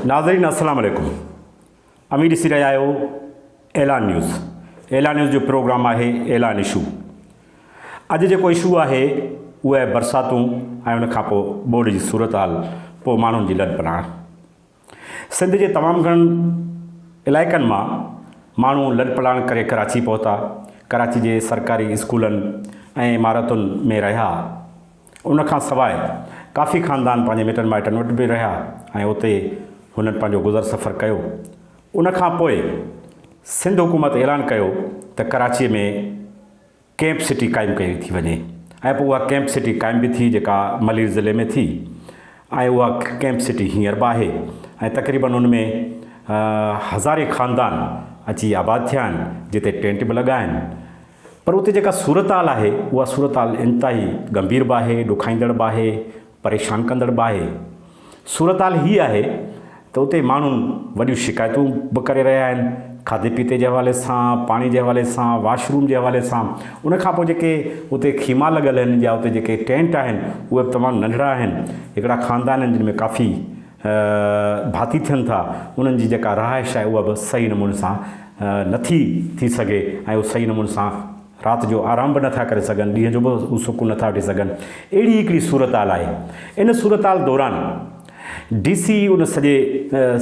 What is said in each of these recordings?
ناظرين السلام عليڪم اوهين ڏسي رهيا آهيو اعلان نيوز اعلان نيوز جو پروگرام آهي اعلان اشو اڄ جيڪو اشو آهي اهو آهي برساتون ۽ ان کان پوء ٻوڏ جي صورتحال پوء ماڻهن جي لڏ پلاڻ سنڌ جي تمام گھڻن علائقن مان ماڻهو لڏ پلاڻ ڪري ڪراچي پهتا ڪراچي جي سرڪاري اسڪولن ۽ عمارتن ۾ رهيا ان کان سواء ڪافي خاندان پنهنجي مٽن مائٽن وٽ به رهيا ۽ اتي هنن پنهنجو گذر سفر ڪيو. ان کان پوء سنڌ حڪومت اعلان ڪيو ته ڪراچيء ۾ ڪيمپ سٽي قائم ڪئي ٿي وڃي ۽ پوء اها ڪيمپ سٽي قائم به ٿي جيڪا ملير ضلعي ۾ ٿي ۽ اها ڪيمپ سٽي هينئر به آهي ۽ تقريبن ان ۾ هزارين خاندان اچي آباد ٿيا آهن جتي ٽينٽ به لڳا آهن. پر اتي جيڪا صورتحال آهي، اها صورتحال انتهائي ڳنڀير به آهي، ڏکائيندڙ به آهي، پريشان ڪندڙ به آهي. صورتحال هيء آهي ته اتي ماڻهو وڏيون شڪايتون به ڪري رهيا آهن، کاڌي پيتي جي حوالي سان، پاڻي جي حوالي سان، واش روم جي حوالي سان. ان کان پوء جيڪي اتي خيما لڳل آهن يا اتي جيڪي ٽينٽ آهن، اهي به تمام ننڍڙا آهن. هڪڙا خاندان آهن، جن ۾ ڪافي. ڀاتي ٿين ٿا انهن جي جيڪا رهائش آهي اها به صحيح نموني سان نٿي ٿي سگهي ۽ اهو صحيح نموني سان رات جو آرام به نٿا ڪري سگهن ڏينهن جو به هو سڪون نٿا وٺي سگهن اهڙي هڪڙي صورتحال آهي ان صورتحال دوران ڊي سي ان سڄي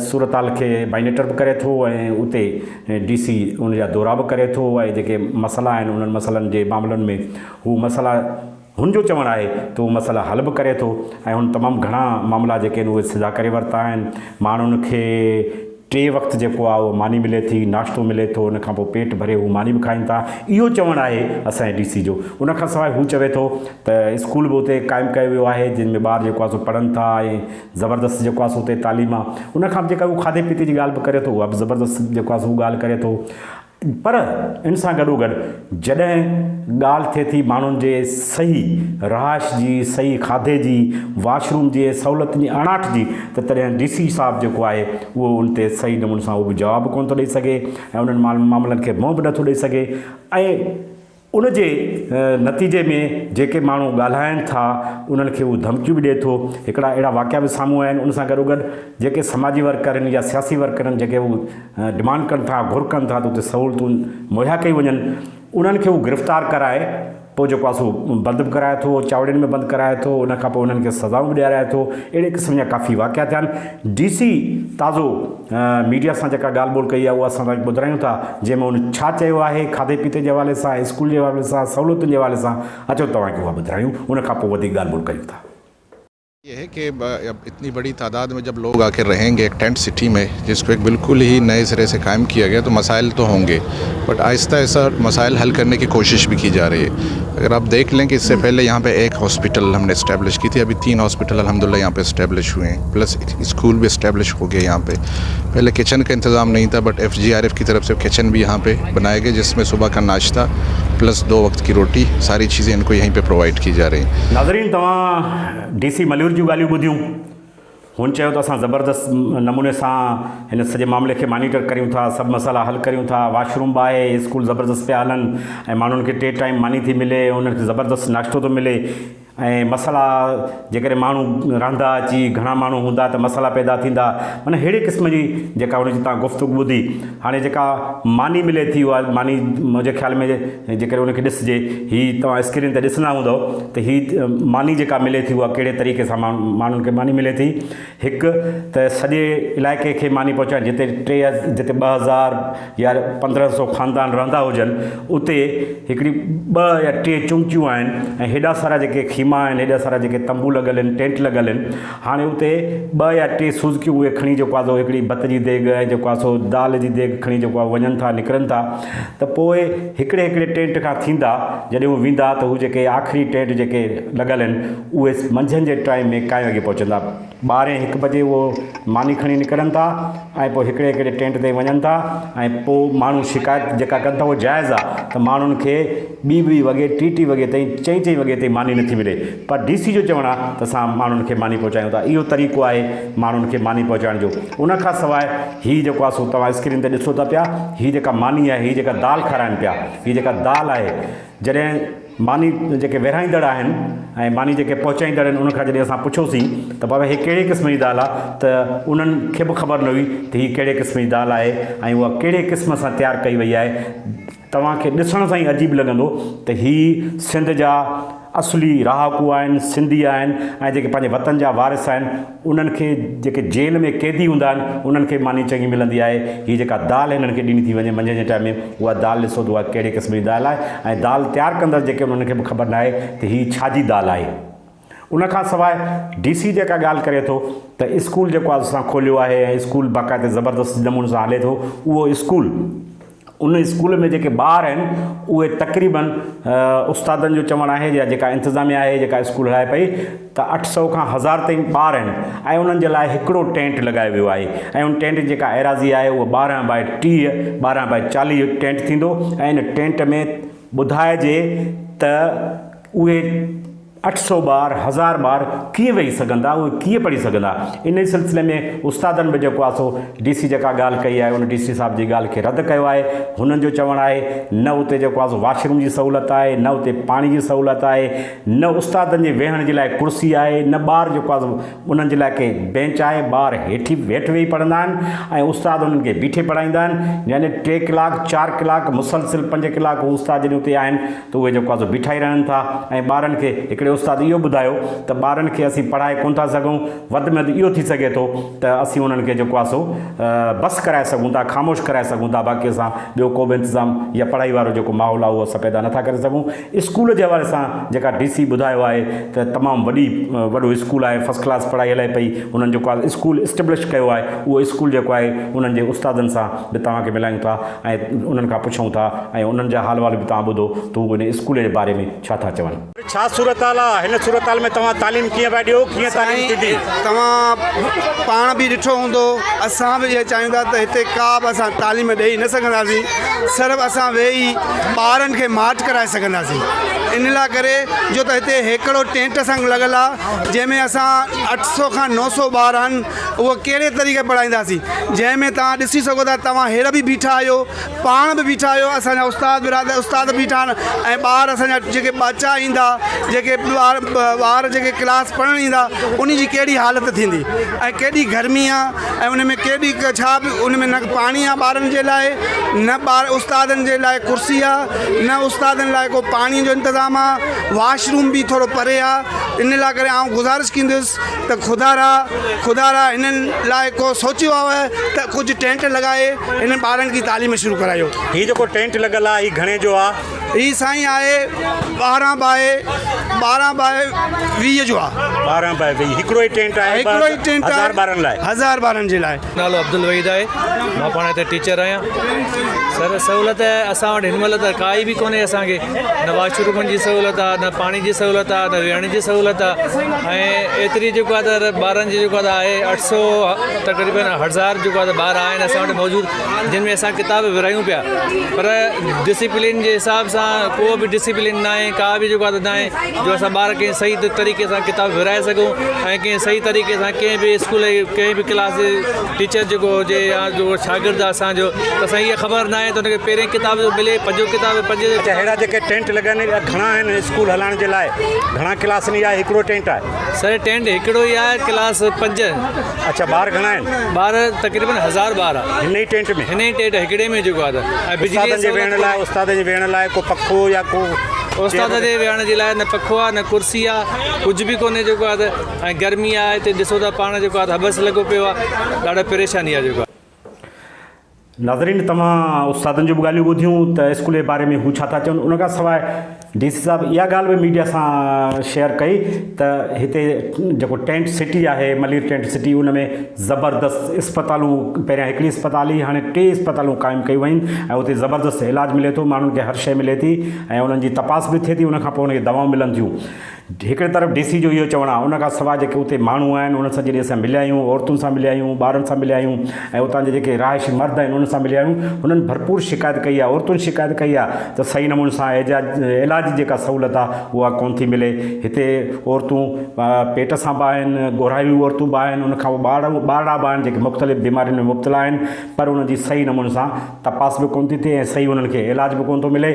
صورتحال کي بائنيٽر به ڪري ٿو ۽ اتي ڊي سي ان جا دورا به ڪري ٿو ۽ جيڪي مسئلا آهن انهن مسئلن جي معاملن ۾ هو مسئلا هن جو چوڻ آهي ته هو مسئلا حل به ڪري ٿو ۽ هن تمام گهڻا معاملا جيڪي آهن اهي سڌا ڪري ورتا آهن، ماڻهن کي ٽي وقت جيڪو آهي اهو ماني ملي ٿي، ناشتو ملي ٿو ان کانپوء پيٽ ڀري هو ماني به کائين ٿا اهو چوڻ آهي اسان جي ڊي سي جو، ان کانسواء هو چوي ٿو ته اسڪول به اتي قائم ڪيو ويو آهي جن ۾ ٻار جيڪو آهي سو پڙهن ٿا ۽ زبردست جيڪو آهي سو اتي تعليم آهي، ان کان به جيڪا هو کاڌي پيتي جي ڳالهه به ڪري ٿو اها به زبردست جيڪو آهي سو هو ڳالهه ڪري ٿو. پر ان سان گڏوگڏ جڏهن ڳالهه ٿئي ٿي ماڻهن جي صحيح رهائش جي، صحيح کاڌي جي، واش روم جي ۽ سهولتن جي اڻاٺ جي ته تڏهن ڊي سي صاحب جيڪو آهي اهو ان تي صحيح نموني سان اهو به جواب ڪونه ٿو ڏئي سگهي ۽ انهن معاملن کي منهن به نٿو ڏئي سگهي ۽ ان جي نتيجي ۾ جيڪي ماڻهو ڳالهائين ٿا انهن کي هو ڌمڪيون به ڏئي ٿو. هڪڙا اهڙا واقعا به سامهون آيا آهن. ان سان گڏوگڏ جيڪي سماجي ورڪر آهن يا سياسي ورڪر آهن جيڪي هو ڊمانڊ ڪن ٿا گهر ڪن ٿا ته اتي سهولتون مهيا ڪيون وڃن انهن کي هو گرفتار ڪرائي پوء جيڪو آهي سو بند به ڪرائي ٿو چاوڙين ۾ بند ڪرائي ٿو ان کان پوء انهن کي سزائون به ڏيارائي ٿو اهڙي قسم جا ڪافي واقعا ٿيا آهن. ڊي سي تازو ميڊيا سان جيڪا ڳالهه ٻولهه ڪئي آهي اها اسان توهان کي ٻڌرايون ٿا جنهن ۾ هن ڇا چيو آهي کاڌي پيتي جي حوالي سان اسڪول جي حوالي سان سهولتن جي حوالي سان اچو توهان کي اها ٻڌرايون ان کان پوء وڌيڪ ڳالهه ٻولهه ڪريون ٿا. يھ ھي ڪي اب اتني بڙي تعداد مين جب لوگ آڪر رھين گي ايک ٽينٽ سٽي مين جس ڪو ايک بلڪل ھي نئي سري سي قائم ڪيا گيا تو مسائل تو ھونگي بٽ آهستہ آهستہ مسائل حل ڪرني ڪي ڪوشش به ڪي جا رهي هي اگر آپ ديک لين ڪي اس سي پهلي يهان پي ايک هاسپيٽل هم ني اسٽيبلش ڪي ٿي ابهي تين هاسپيٽل الحمد الله يهان پي اسٽيبلش هوئي هين پلس اسڪول به اسٽيبلش هو گئي يهان پي پهلي ڪچن ڪا انتظام نهين ٿا but F G R F ڪي طرف سي ڪچن به يهان پي بنائي گئي جس مي صبح ڪا ناشته پلس دو وقت ڪي روٽي ساري چيزين ان ڪو يهين پي پروائيڊ ڪي جا رهي هين. ناظرين توهان ڊي سي ملير جون ڳالهيون ٻڌيون. هن چيو ته اسان زبردست نموني سان هن سڄي معاملي کي مانيٽر ڪريون ٿا، سڀ مسئلا حل ڪريون ٿا، واش روم به آهي، اسڪول زبردست پيا هلن ۽ ماڻهن کي ٽي ٽائيم ماني ٿي ملي، انهن کي زبردست ناشتو ٿو ملي ۽ مسئلا جيڪڏهن ماڻهو رهندا اچي گهڻا ماڻهو هوندا ته مسئلا پيدا ٿيندا معنيٰ ههڙي قسم جي جيڪا هن جي تان گفتگو ٻڌي هاڻي جيڪا ماني ملي ٿي اها ماني منهنجي خيال ۾ جيڪڏهن ان کي ڏسجي، هي توهان اسڪرين تي ڏسندا هوندؤ ته هي ماني جيڪا ملي ٿي اها ڪهڙي طريقي سان ماڻهن کي ماني ملي ٿي. هڪ ته سڄي علائقي کي ماني پهچائڻ جتي ٽي جتي ٻه هزار يا پندرهن سو خاندان رهندا هجن اتي هڪڙي ٻه يا ٽي چونڪيون آهن ۽ هيڏا سارا جيڪي خيما آهن هيڏا سارا جيڪي تنبو لڳل آهن ٽينٽ لڳل آهن. هاڻي اتي ٻه يا ٽي سوزڪيون اهي کڻي جيڪو آهي سو هڪڙي ڀت جي ديڳ ۽ جيڪو آهي سو دال جي ديڳ کڻي جيڪو آهي وڃن ٿا نڪرن ٿا ته پوء هڪڙي هڪڙي ٽينٽ کان ٿيندا جڏهن هو ويندا ته هو جيڪي آخري ٽينٽ جيڪي لڳل آهن اهي منجهند جي ٽائيم ۾ ڪائين وڳي پهچندا ٻارهين هڪ بجي اهو ماني کڻي نڪرن ٿا ۽ پوء هڪڙي هڪڙي ٽينٽ تي وڃن ٿا ۽ پوء ماڻهو شڪايت جيڪا ڪن ٿا اهو جائز آهي ته ماڻهن کي ٻي ٻي وڳي ٽي ٽي وڳي تائين چئين چئين وڳي تائين ماني نٿي ملي پر ڊي سي جو چوڻ آهي ته اسان ماڻهن کي ماني پهچايون ٿا اهو طريقو آهي ماڻهن کي ماني پهچائڻ جو ان کان سواء هي جيڪو آهي سو توهان اسڪرين تي ڏسو ٿا پيا هي جيڪا ماني آهي هي جيڪا دال کارائن پيا هي جيڪا دال آهي جڏهن ماني جيڪي ورهائيندڙ آهن ۽ ماني جيڪي پهچائيندڙ آهن ان کان جڏهن اسان پڇيوسين ته بابا هي ڪهڙي قسم جي دال آهي ته انهن کي به خبر نه هئي ته هي ڪهڙي قسم جي دال آهي ۽ اها ڪهڙي قسم سان تيار ڪئي وئي آهي توهان کي ڏسڻ سان ئي عجيب لڳندو ته هي سنڌ جا اصلي رهاڪو آهن، سنڌي آهن ۽ جيڪي پنهنجي وطن جا وارث آهن انهن کي جيڪي جيل ۾ قيدي هوندا آهن انهن کي به ماني چڱي ملندي آهي. هي جيڪا دال هنن کي ڏني ٿي وڃي منجهند جي ٽائيم ۾ اها دال ڏسو ته اها ڪهڙي قسم جي دال آهي ۽ دال تيار ڪندڙ جيڪي انهن کي به خبر ناهي ته هي ڇا جي دال آهي. ان کان سواء ڊي سي جيڪا ڳالهه ڪري ٿو ته اسڪول جيڪو آز اسان کوليو آهي ۽ اسڪول باقاعده زبردست نموني سان هلي ٿو اهو اسڪول ان اسڪول ۾ جيڪي ٻار آهن اهي تقريبن استادن جو چوڻ آهي يا جيڪا انتظاميا آهي جيڪا اسڪول هلائي پئي ته اٺ سؤ کان هزار تائين ٻار آهن ۽ انهن جي لاء هڪڙو ٽينٽ لڳايو ويو آهي ۽ ان ٽينٽ جيڪا ايراضي آهي اهو ٻارهن بائي ٽيهه ٻارهن بائي چاليهه ٽينٽ ٿيندو ۽ ان ٽينٽ ۾ ٻڌائجي ته اهي اٺ سؤ ٻار، هزار ٻار ڪيئن ويهي سگهندا، اهي ڪيئن پڙهي سگهندا. انهي سلسلي ۾ استادن به جيڪو آسو ڊي سي جيڪا ڳالهه ڪئي آهي ان ڊي سي صاحب جي ڳالهه کي رد ڪيو آهي. هنن جو چوڻ آهي نه اتي جيڪو آسو واش روم جي سهولت آهي، نه اتي پاڻي جي سهولت آهي، نه استادن جي ويهڻ جي لاء ڪرسي آهي، نه ٻار جيڪو آسو انهن جي لاء ڪي بينچ آهي، ٻار هيٺي هيٺ ويهي پڙهندا آهن ۽ استاد انهن کي بيٺي پڙهائيندا آهن يعني ٽي ڪلاڪ چار ڪلاڪ مسلسل پنج ڪلاڪ هو استاد جڏهن اتي آهن ته اهي جيڪو آزو بيٺا ئي رهن ٿا ۽ ٻارن کي هڪڙي استاد اهو ٻڌايو ته ٻارن کي اسين پڙهائي ڪونه ٿا سگهون وڌ ۾ وڌ اهو ٿي سگهي ٿو ته اسين انهن کي جيڪو آهي سو بس ڪرائي سگهون ٿا خاموش ڪرائي سگهون ٿا باقي اسان ٻيو ڪو به انتظام يا پڙهائي وارو جيڪو ماحول آهي اهو اسان پيدا نه ٿا ڪري سگهون اسڪول جي حوالي سان جيڪا ڊي سي ٻڌايو آهي ته تمام وڏي وڏو اسڪول آهي فرسٽ ڪلاس پڙهائي هلي پئي انهن جيڪو آهي اسڪول اسٽبلش ڪيو آهي اهو اسڪول جيڪو آهي انهن جي استادن سان به توهان کي ملائيون ٿا. ۽ انهن کان پڇون ٿا ۽ انهن جا حال احوال به توهان ٻڌو ته هو هن اسڪول جي باري ۾ ڇا ٿا چون. ڇا صورتحال آ؟ هن صورتحال ۾ توهان تعليم ڪيئن پيا ڏيو؟ ڪيئن تعليم ٿيندي؟ سائين توهان پاڻ به ڏٺو هوندو اسان به اهو چاهيون ٿا ته هتي ڪا به اسان تعليم ڏئي نه سگهنداسين صرف اسان ويهي ٻارن کي ماٺ ڪرائي سگهنداسين ان لاء ڪري جو ته هتي هيڪڙو ٽينٽ سان لڳل آ جنهن ۾ اسان اٺ سؤ کان نو سؤ ٻار آهن اهو ڪهڙي طريقي پڙهائينداسين جنهن ۾ توهان ڏسي سگهو ٿا توهان هير به بيٺا آهيو پاڻ به بيٺا آهيو اسان جا استاد برادر استاد به بيٺا آهن ۽ ٻار اسان جا جيڪي ٻچا ايندا جيڪي ٻار ٻار جيڪي ڪلاس پڙهڻ ايندا ان جي ڪهڙي حالت ٿيندي ۽ ڪيڏي گرمي آهي ۽ ان ۾ ڪيڏي ڇا به ان ۾ نه پاڻي آهي ٻارن جي لاء نه ٻار استادن جي لاء ڪرسي آهي نه استادن لاء ڪو پاڻي جو انتظام آهي واشروم به ٿورو پري آهي ان لاء ڪري آئون گذارش ڪندس ته خدا را خدا را هنن لاء ڪو سوچيو آهو ته ڪجهه ٽينٽ لڳائي هنن ٻارن جي تعليم شروع ڪرايو. هي جيڪو ٽينٽ لڳل آهي هي گهڻي جو آهي؟ هي سائين آهي ٻارهن باء ٻارهن باء ويهه جو آهي. ٻارهن باء ويهه هڪڙو ئي ٽينٽ آهي هڪڙو ئي ٽينٽ آهي هزار ٻارن لاء. هزار ٻارن جي لاء. نالو عبدالوحيد آهي مان پاڻ هتي ٽيچر آهيان سر سهولت اسان وٽ هن مهل ته ڪائي به ڪونهي اسانکي نه واش رومن جي سهولت آ نه پاڻي جي سهولت آ نه ويهڻ جي سهولت آ ۽ ايتري جيڪو آ ته ٻارن جي جيڪو آ آهي اٺ سو تقريبن هزار جيڪو آ ٻار آهن اسان وٽ موجود جن ۾ اسان ڪتاب ورهايون پيا پر ڊسيپلين جي حساب سان ڪو به ڊسيپلين ناهي ڪا به جيڪو آ ته ناهي جو اسان ٻار ڪنهن صحيح طريقي سان ڪتاب ورهائي سگهون ۽ ڪنهن صحيح طريقي سان ڪنهن به اسڪول جي ڪنهن به ڪلاس جي ٽيچر جيڪو هجي يا جو شاگرد آهي اسان جو ته اسان جي خبر ناهي ته ان کي پهرين ڪتاب جو ملي پنجون ڪتاب پنجون اچا اهڙا جيڪي ٽينٽ لڳا آهن اهڙا گهڻا آهن اسڪول هلائڻ جي لاء گهڻا ڪلاسن جا هڪڙو ٽينٽ آهي سر ٽينٽ هڪڙو ئي آهي ڪلاس پنج اڇا ٻار گهڻا آهن. ٻار تقريبن هزار ٻار آ. هن ئي ٽينٽ ۾. هن ئي ٽينٽ هڪڙي ۾ جيڪو آ ته ۽ بجلي استادن جي ويهڻ لاء استادن جي ويهڻ لاء ڪو پکو يا ڪو استادن جي ويهڻ جي لاء نه پکو آ نه ڪرسي آ ڪجھ به ڪونهي جيڪو آ ته ۽ گرمي آ هتي ڏسو ٿا پاڻ جيڪو آ ته هٻس لڳو پيو آ ڏاڍا پريشاني آ جيڪو آ. ناظرين توهان استادن جون به ڳالهيون ٻڌيون ته اسڪول جي باري ۾ هو ڇا ٿا چون ان کان سواء ڊي سي صاحب اها ڳالهه به ميڊيا سان شيئر ڪئي ته هتي جيڪو ٽينٽ سٽي آهي ملير ٽينٽ سٽي ان ۾ زبردست اسپتالون پهريان هڪڙي اسپتال هئي هاڻي ٽي اسپتالون قائم ڪيون ويون آهن ۽ اتي زبردست علاج ملي ٿو ماڻهن کي هر شيء ملي ٿي ۽ انهن جي تپاس به ٿئي ٿي ان کان پوء انهن کي دوائون ملن ٿيون هڪڙي طرف ڊي سي جو اهو چوڻ آهي ان کان سواء جيڪي اتي ماڻهو آهن انهن سان جڏهن اسان مليا آهيون عورتن سان مليا آهيون ٻارن سان مليا آهيون ۽ اتان جا جيڪي رهائشي مرد آهن انهن سان مليا آهيون هنن ڀرپور شڪايت ڪئي آهي عورتن شڪايت ڪئي آهي ته صحيح نموني سان اعجاج علاج جي جيڪا سهولت آهي اها ڪون ٿي ملي هتي عورتون پيٽ سان به آهن ڳورهايون عورتون به آهن ان کان ٻار ٻارڙا به آهن جيڪي مختلف بيمارين ۾ مبتلا آهن پر انهن جي صحيح نموني سان تپاس به ڪون ٿي ٿئي ۽ صحيح انهن کي علاج به ڪون ٿو ملي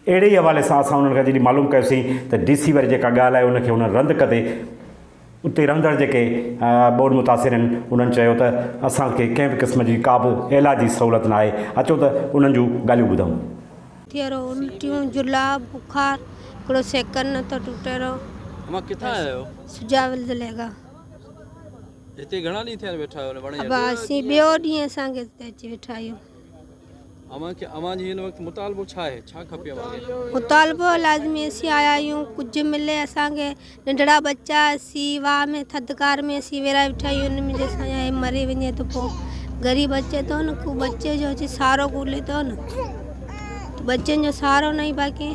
اهڙي ئي حوالي سان اسان انهن کان جڏهن معلوم ڪيوسين ته ڊي سي واري جيڪا ڳالهه آهي ان کي هنن رند ڪندي اتي رهندڙ جيڪي ٻوڏ متاثر آهن انهن چيو ته اسان کي ڪنهن به قسم جي ڪا به علاجي سهولت ناهي اچو ته انهن جون ڳالهيون ٻڌون. ٿيرو الٽيون جلاء بخار هڪڙو سيڪنڊ نه ٿو ٽٽي رهو. امان ڪٿان آيا آهيو؟ سجاول ضلعي کان. هتي گهڻا ڏينهن ٿيا آهن ويٺا آهيو؟ ابا اسين ٻيو ڏينهن اسان کي هتي اچي ويٺا آهيون. اوهان کي اوهان جي هن وقت مطالبو ڇا آهي؟ ڇا کپي اوهان کي؟ مطالبو لازمي اسين آيا آهيون ڪجهه ملي اسان کي ننڍڙا ٻچا اسين واهه ۾ ٿڌڪار ۾ اسين ويرائي ويٺا آهيون ان ۾ جي اسان جا هي مري وڃي ته پو غريب اچي ٿو نه ڪو ٻچي جو اچي سهارو ڳولي ٿو نه ته ٻچن جو سهارو ناهي باقي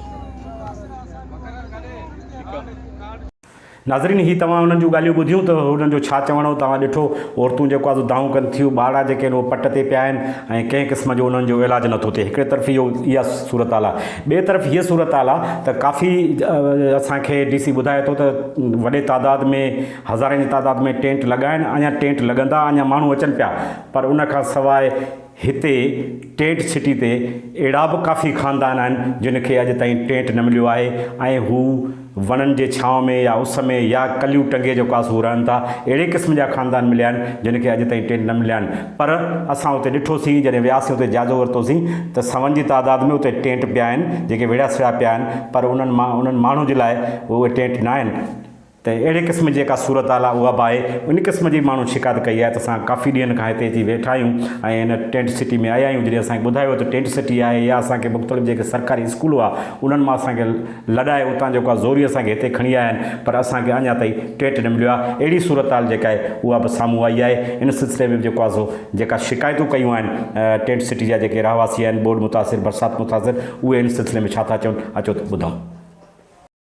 ناظرين هي توهان انهن جون ڳالهيون ٻڌيون ته انهن جو ڇا چوڻ هو توهان ڏٺو عورتون جيڪو آهي سو دانهون ڪن ٿيون ٻارڙا جيڪي آهن اهي پٽ تي پيا آهن ۽ ڪنهن قسم جو انهن جو علاج نٿو ٿئي هڪڙي طرف اهو اها صورتحال آهي ٻئي طرف هيء صورتحال آهي ته ڪافي اسان کي ڊي سي ٻڌائي ٿو ته وڏي تعداد ۾ هزارين جي تعداد ۾ ٽينٽ لڳا آهن اڃان ٽينٽ لڳندا اڃان ماڻهو اچن پيا پر ان کان سواء هتي ٽينٽ سٽي تي اهڙا به ڪافي خاندان آهن جن کي اڄ تائين ٽينٽ نه مليو آهي ۽ هو وڻن جي ڇانو ۾ يا اس ۾ يا ڪليون ٽنگي جو ڪا سو رهن ٿا. اهڙي قسم جا خاندان مليا آهن جن کي اڄ تائين ٽينٽ نه مليا آهن پر اسان اتي ڏٺوسين جڏهن وياسين اتي جائزو ورتوسين ته سون جي تعداد ۾ اتي ٽينٽ پيا آهن جيڪي ويڙهيا سويا پيا آهن پر انهن مان انهن ماڻهن جي لاء اهي ٽينٽ نه آهن. ته اهڙي قسم جي جيڪا صورتحال آهي اها به آهي، ان قسم جي به ماڻهن شڪايت ڪئي آهي ته اسان ڪافي ڏينهن کان هتي اچي ويٺا آهيون ۽ هن ٽينٽ سٽي ۾ آيا آهيون جڏهن اسان کي ٻڌايو ويو ته ٽينٽ سٽي آهي يا اسان کي مختلف جيڪي سرڪاري اسڪول هئا انهن مان اسان کي لڏائي اتان جيڪو آهي زوري اسان کي هتي کڻي آيا آهن پر اسان کي اڃا تائين ٽينٽ نه مليو آهي اهڙي صورتحال جيڪا آهي اها به سامهون آئي آهي ان سلسلي ۾ به جيڪو آهي سو جيڪا شڪايتون ڪيون آهن ٽينٽ سٽي جا جيڪي رهواسي آهن ٻوڏ متاثر برسات متاثر اهي ان سلسلي ۾ ڇا ٿا چون اچو ته ٻڌون.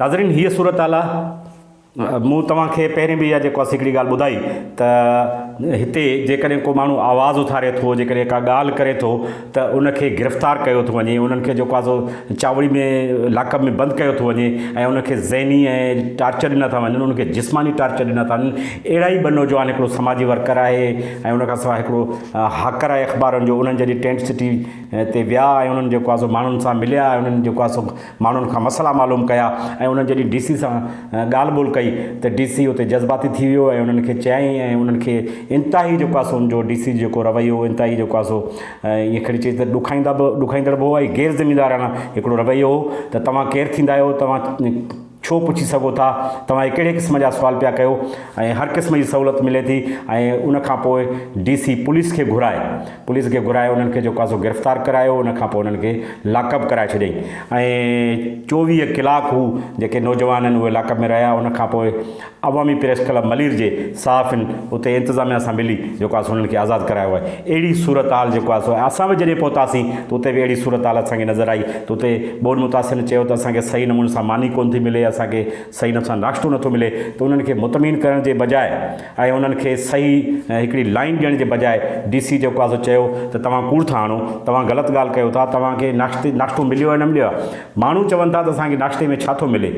ناظرين هيء صورتحال آ مون توهان کي پهرين به اها جيڪو اسين هڪڙي ڳالهه ٻڌائي ته هتي جيڪڏهن ڪو ماڻهو آواز اٿاري ٿو جيڪڏهن ڪا ڳالهه ڪري ٿو ته ان کي گرفتار ڪيو ٿو وڃي انهن کي جيڪو آ سو چاوڙي ۾ لاڪ اپ ۾ بند ڪيو ٿو وڃي ۽ ان کي ذهني ۽ ٽارچر ڏنا ٿا وڃن ان کي جسماني ٽارچر ڏنا ٿا وڃن اهڙا ئي ٻه نوجوان هڪڙو سماجي ورڪر آهي ۽ ان کان سواء هڪڙو هاڪر آهي اخبارن جو انهن جڏهن ٽينٽ سٽي تي ويا ۽ انهن جيڪو آ سو ماڻهن سان مليا انهن جيڪو آ سو ماڻهن کان مسئلا معلوم ڪيا ۽ انهن جڏهن ڊي سي سان ڳالهه ٻولهه ڪئي ته ڊي سي اتي جذباتي ٿي ويو ۽ انهن کي چيائين ۽ انهن کي انتهائي جيڪو آهي سو ان جو ڊي سي جو جيڪو رويو هو انتهائي جيڪو آهي سو ائين کڻي چئجي ته ڏکائيندا به ڏکائيندڙ به هو ۽ غير ذميوارانه هڪڙو رويو هو ته توهان ڪير ٿيندا آهيو توهان ڇو پڇي سگهو ٿا توهان هي ڪهڙي قسم جا سوال پيا ڪيو ۽ هر قسم جي سهولت ملي ٿي ۽ ان کان پوء ڊي سي پوليس کي گهرائي پوليس کي گهرائي انهن کي جو ڪاسو گرفتار ڪرايو ان کان پوء انهن کي لاڪ اپ ڪرائي ڇڏيائين ۽ چوويهه ڪلاڪ هو جيڪي نوجوان آهن اهي لاڪ اپ ۾ رهيا ان کان پوء عوامي پريس ڪلب ملير جي صحافين اتي انتظاميا سان ملي جو ڪاسو انهن کي آزاد ڪرايو آهي اهڙي صورتحال جيڪو آهي سو اسان به جڏهن پهتاسين ته اتي به اهڙي صورتحال اسان کي نظر آئي ته اتي ٻئن متاثرين چيو ته اسان کي صحيح نموني سان ماني ڪونه ٿي ملي اسان کي صحيح نموني سان ناشتو نٿو ملي ته انهن کي مطمئن ڪرڻ جي بجاء ۽ انهن کي صحيح هڪڙي لائين ڏيڻ جي بجاء ڊي سي جيڪو آهي سو چيو ته توهان ڪوڙ ٿا آڻو، توهان غلط ڳالهه ڪيو ٿا، توهان کي ناشتي ناشتو مليو آهي نه مليو آهي، ماڻهو چون ٿا ته اسان کي ناشتي ۾ ڇا ٿو ملي،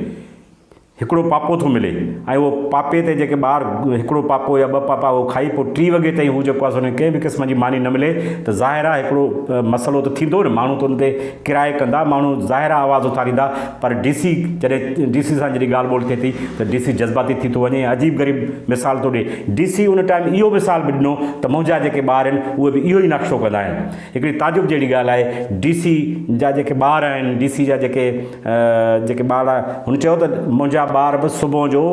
هڪڙو پاپو ٿو ملي ۽ اهو پاپي تي جيڪي ٻار هڪڙو پاپو يا ٻه پاپا اهو کائي پوء ٽي وڳي تائين هو جيڪو آهي سو ان کي ڪنهن به قسم جي ماني نه ملي ته ظاهر آهي هڪڙو مسئلو ته ٿيندو نه ماڻهو ته ان تي ڪرائي ڪندا، ماڻهو ظاهر آ آواز اٿاريندا پر ڊي سي جڏهن ڊي سي سان جڏهن ڳالهه ٻولهه ٿئي ٿي ته ڊي سي جذباتي ٿي ٿو وڃي ۽ عجيب غريب مثال ٿو ڏئي، ڊي سي ان ٽائيم اهو مثال به ڏنو ته منهنجا جيڪي ٻار آهن اهي به اهو ئي نقشو ڪندا آهن. هڪڙي تعجب جهڙي ڳالهه آهي ڊي سي جا جيڪي ٻار آهن ڊي سي جا جيڪي جيڪي ٻار هن چيو ته منهنجا ٻار به صبح جو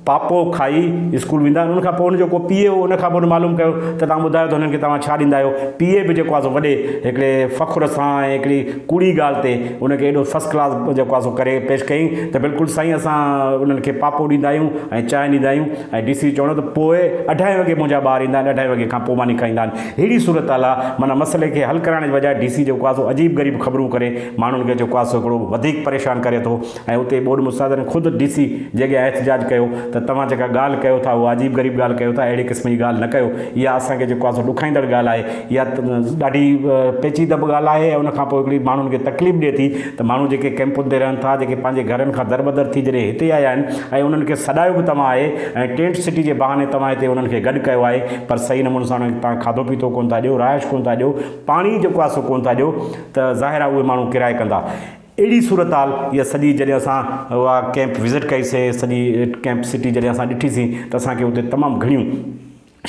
پاپو کائي اسڪول ويندا آهن ان کان پوء هن جو ڪو پيء هو ان کان پوء هن معلوم ڪيو ته توهان ٻڌايو ته هنن کي توهان ڇا ڏيندا آهيو پيء به جيڪو آهي سو وڏي هڪڙي فخر سان ۽ هڪڙي ڪوڙي ڳالهه تي ان کي ايڏو فرسٽ ڪلاس جيڪو آهي سو ڪري پيش ڪيائين ته بلڪل سائين اسان انهن کي پاپو ڏيندا آهيون ۽ چانهه ڏيندا آهيون ۽ ڊي سي چوڻو ته پوء اڍائي وڳي منهنجا ٻار ايندا آهن اڍائي وڳي کان پوء ماني کائيندا آهن ههڙي صورت حال آهي معنيٰ مسئلي کي حل ڪرائڻ جي بجاء ڊي سي جيڪو آهي سو عجيب غريب خبرون ڪري ماڻهن کي جيڪو آهي سو هڪڙو وڌيڪ پريشان ڪري ٿو ۽ اتي ٻوڏ مستادن خود ڊي سي جي اڳيان احتجاج ڪيو ته توهان جيڪا ڳالهه ڪيو ٿا اها عجيب غريب ڳالهه ڪيو ٿا اهڙي قسم جي ڳالهه نه ڪيو اها اسان کي جيڪو آهي سو ڏکائيندڙ ڳالهه آهي اها ڏاڍي پيچيده به ڳالهه آهي ۽ ان کان پوء هڪڙي ماڻهن کي تڪليف ڏئي ٿي ته ماڻهو جيڪي ڪئمپن تي رهن ٿا جيڪي پنهنجي گهرن کان دربدر ٿي جڏهن هتي آيا آهن ۽ انهن کي سڏايو به توهان آهي ۽ ٽينٽ سٽي جي بهاني توهان هتي انهن کي گڏ ڪيو آهي پر صحيح نموني سان انهن کي توهان کاڌو پيتو ڪونه ٿا ڏيو رهائش ڪونه ٿا ڏيو پاڻي جيڪو آهي سو ڪونه ٿا ڏيو ته ظاهر آهي اهي ماڻهو ڪرايو ڪندا اهڙي صورتحال اها سڄي جڏهن اسان اها ڪئمپ وزٽ ڪئي سي سڄي ڪئمپ سٽي جڏهن اسان ڏٺي سي ته اسان کي اتي تمام گهڻيون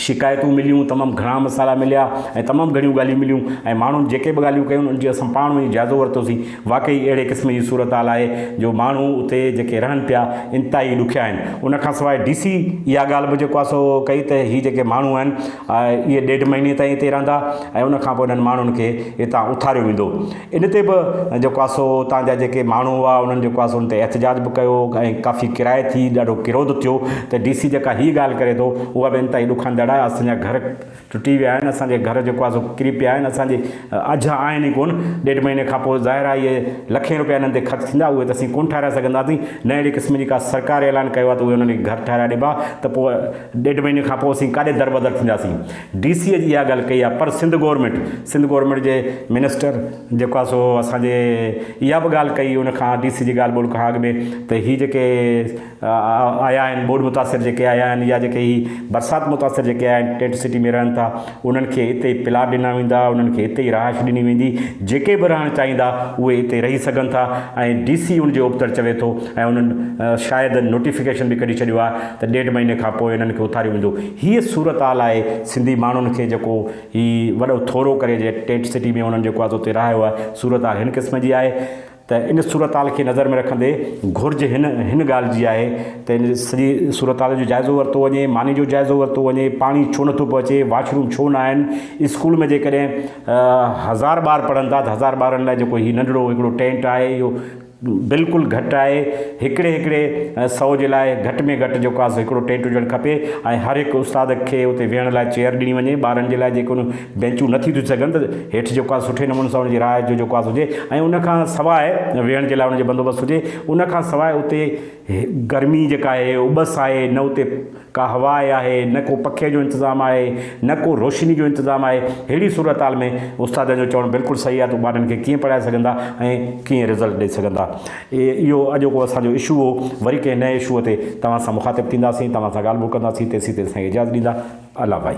شڪايتون مليون تمام گهڻا مسئلا مليا ۽ تمام گهڻيون ڳالهيون مليون ۽ ماڻهن جيڪي به ڳالهيون ڪيون ان جي اسان پاڻ وڃي جائزو ورتو سي واقعي اهڙي قسم جي صورتحال آهي جو ماڻهو اتي جيڪي رهن پيا انتهائي ڏکيا آهن ان کان سواء ڊي سي اها ڳالهه به جيڪو آهي سو ڪئي ته هي جيڪي ماڻهو آهن اهي ڏيڍ مهيني تائين اتي رهندا ۽ ان کان پوء انهن ماڻهن کي هتان اٿاريو ويندو ان تي به جيڪو آهي سو اتان جا جيڪي ماڻهو هئا انهن جيڪو آهي سو ان تي احتجاج به ڪيو ۽ ڪافي ڪرائي ٿي ڏاڍو ڪروڌ ٿيو ته ڊي سي جيڪا هي ڳالهه ڪري ٿو اها به انتهائي ڏکاندڙ آهي اسان جا گهر ٽٽي ويا آهن اسان جي گهر جيڪو آهي سو ڪري پيا آهن اسان جي اجها آهن ئي ڪونه ڏيڍ مهيني کان پوء ظاهر آهي اهي لکين روپيا انهن تي خرچ ٿيندا اهي ته اسين ڪونه ٺهرائي سگهنداسين نه اهڙي قسم جي ڪا سرڪار اعلان ڪيو آهي ته اهي انهن کي گهر ٺهرائي ڏبا ته پوء ڏيڍ مهيني کان پوء اسين ڪاڏي دربدر ٿينداسين ڊي سي اڄ اها ڳالهه ڪئي آهي پر سنڌ گورنمينٽ سنڌ گورنمينٽ جي منسٽر جيڪو آهي سو اسان جي اها به ڳالهه ڪئي ان کان ڊي سي جي ڳالهه ٻولهه کان اڳ ۾ ته هي جيڪي آيا آهن ٻوڏ متاثر جيڪي آيا آهن يا جيڪي هي برسات متاثر جيڪي آيا آهن ٽينٽ سٽي ۾ رهن ٿا انهن کي اتي ئي پلاٽ ڏنا ويندا انهن کي اتي ئي رهائش ڏني ويندي جيڪي به رهڻ چاهيندا اهي اتي رهي سگهن ٿا ۽ ڊي سي ان جي ابتڙ چوي ٿو ۽ انهن شايد نوٽيفڪيشن به ڪڍي ڇڏيو آهي ته ڏيڍ مهيني کان پوء انهن کي اٿاريو ويندو هيء صورتحال آهي سنڌي ماڻهن کي جيڪو هي وڏو ٿورو ڪري جي ٽينٽ سٽي ۾ انهن جيڪو آهي سو اتي رهايو آهي صورتحال هن قسم جي آهي ته ان صورتحال کي نظر ۾ رکندي گهرج هن هن ڳالهه جي آهي ته ان سڄي صورتحال جو جائزو ورتو وڃي ماني جو جائزو ورتو وڃي پاڻي ڇو نٿو پهچي واش روم ڇو نه آهن اسڪول ۾ جيڪڏهن هزار ٻار پڙهن ٿا ته هزار ٻارن لاء جيڪو هي ننڍڙو هڪڙو ٽينٽ آهي اهو بلڪل گهٽ آهي هڪڙي هڪڙي سئو جي لاء گهٽ ۾ گهٽ جيڪو آسي هڪڙو ٽينٽ هجڻ کپي ۽ هر هڪ استاد کي اتي ويهڻ لاء چيئر ڏني وڃي ٻارن جي لاء جيڪو بينچون نه ٿي ٿي سگهن ته هيٺ جيڪو آسي سٺي نموني سان ان جي راء جو جيڪو آسي هجي ۽ ان کان سواء ويهڻ جي لاء ان جو بندوبست هجي ان کان سواء اتي گرمي جيڪا آهي اٻس آهي نه اتي ڪا هوا آهي، نه ڪو پکي جو انتظام آهي، نه ڪو روشني جو انتظام آهي، ههڙي صورتحال ۾ استادن جو چوڻ بلڪل صحيح آهي ته ٻارڙن کي ڪيئن پڙهائي سگهندا ۽ ڪيئن رزلٽ ڏئي سگهندا. اهو اڄوڪو اسان جو اشو هو، وري ڪنهن نئين اشوء تي توهان سان مخاطب ٿينداسين، توهان سان ڳالهه ٻولهه ڪنداسين، تيسين تيسين اجازت ڏيندا. الله بائي.